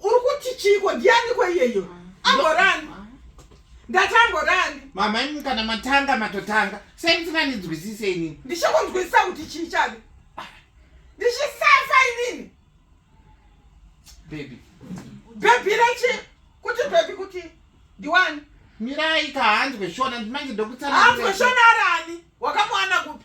uri kuti chiiko ndiyaniko iyeyo amborani ndati amborani mama imi kana matanga matotanga sei musinganizwisise inini ndichikunzwisisa kuti chii chave ndichisafa inini bebi bebi rechi kuti bebi kuti ndiwani mirai kahanzwe shona manje ndokutsana hanzwe shona arani wakamuwana kupi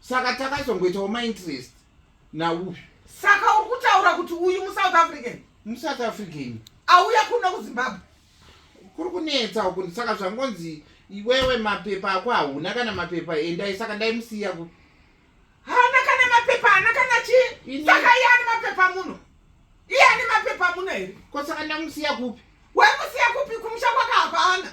saka takazongoitawo mainterest nauyu saka uri kutaura kuti uyu musouth african musouth african auya kuno kuzimbabwe kuri kunetsa uku saka zvangonzi iwewe mapepa ako hauna kana mapepa endai saka ndaimusiya ku haana kana mapepa haana kana chii saka iye ane mapepa muno iye ane mapepa muno here ko saka ndamusiya kupi wamusiya kupi kumusha kwaka hapana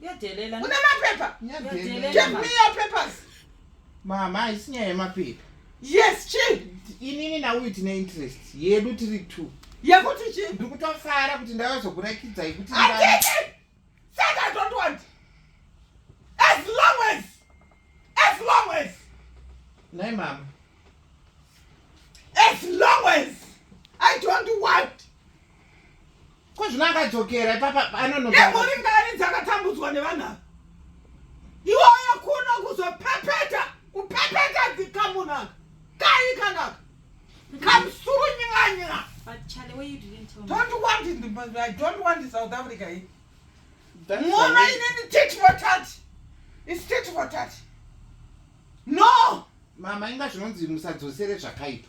Une mapepa? Give me your papers. Mama, haisi nyaya yemapepa. Yes, chi. Inini nauyu tine interest yedu tiri two. Yekuti chi? Ndiri kutofara kuti ndavazokurakidza yekuti. Atete! Said I don't want. As long as, as long as. Nay, mama. As long as I don't want. ko zvino akadzokera ipapa anonogori ngari dzakatambudzwa nevanhu ava iwoyo kuno kuzopepeta kupepeta dzikamunaka kai kanaka kamsuru nyinganyinga don't want in the, i don't want in south africa hii muona inini tit for tat is tit for tat no mama inga zvinonzi musadzosere zvakaipa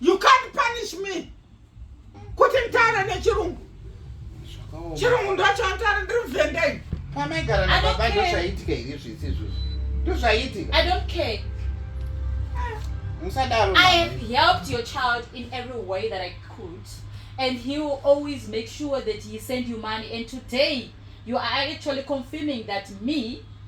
You can't punish me. Kuti mtaare nechirungu. Chirungu ndacho mtaare ndiri mvenda iyi. Pamaigara na baba ndo zvaitika iri zvisi izvozvo. Ndo zvaitika. I don't care. Musadaro. I have helped your child in every way that I could and he will always make sure that he send you money and today you are actually confirming that me